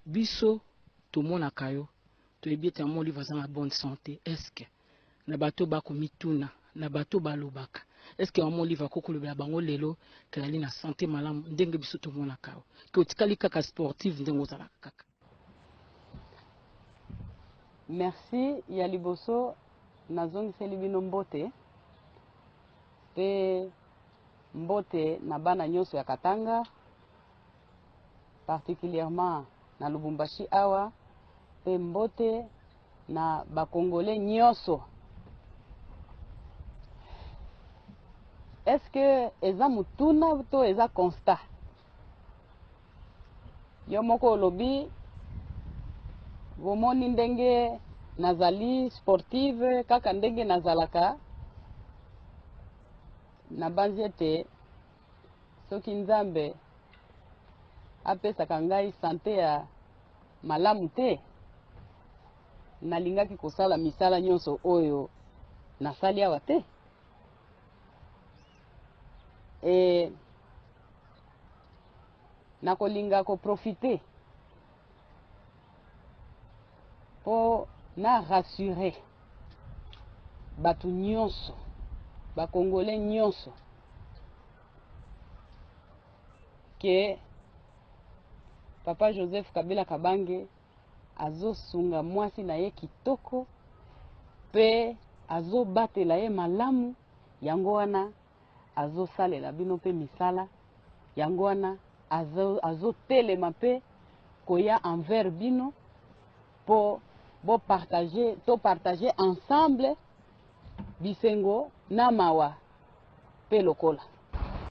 biso tomonaka yo toyebi ete yango olive aza na bonne sante eske na bato bakomituna na bato balobaka eske yango olive akoki kolobela bango lelo ke ali na sante malamu ndenge biso tomonaka yo ke otikali kaka sportive ndenge ozalaka kaka merci ya liboso nazongiseli bino mbote mpe mbote na bana nyonso ya katanga particulièrement na Lubumbashi awa pe mbote na ba congolais nyoso. Est-ce que eza mutuna to eza constat? Yo moko olobi bomoni ndenge nazali sportive kaka ndenge nazalaka nabanzi ete soki Nzambe apesaka ngai sante ya malamu te, nalingaki kosala misala nyonso oyo nasali awa te. E, nakolinga koprofite mpo na rassure bato nyonso bakongole nyonso ke papa joseph kabila kabange azosunga mwasi na ye kitoko mpe azobatela ye malamu yango wana azosalela bino mpe misala yango wana azotelema azo mpe koya envers bino mpo bopartage topartage ensemble Bisengo na mawa pe lokola.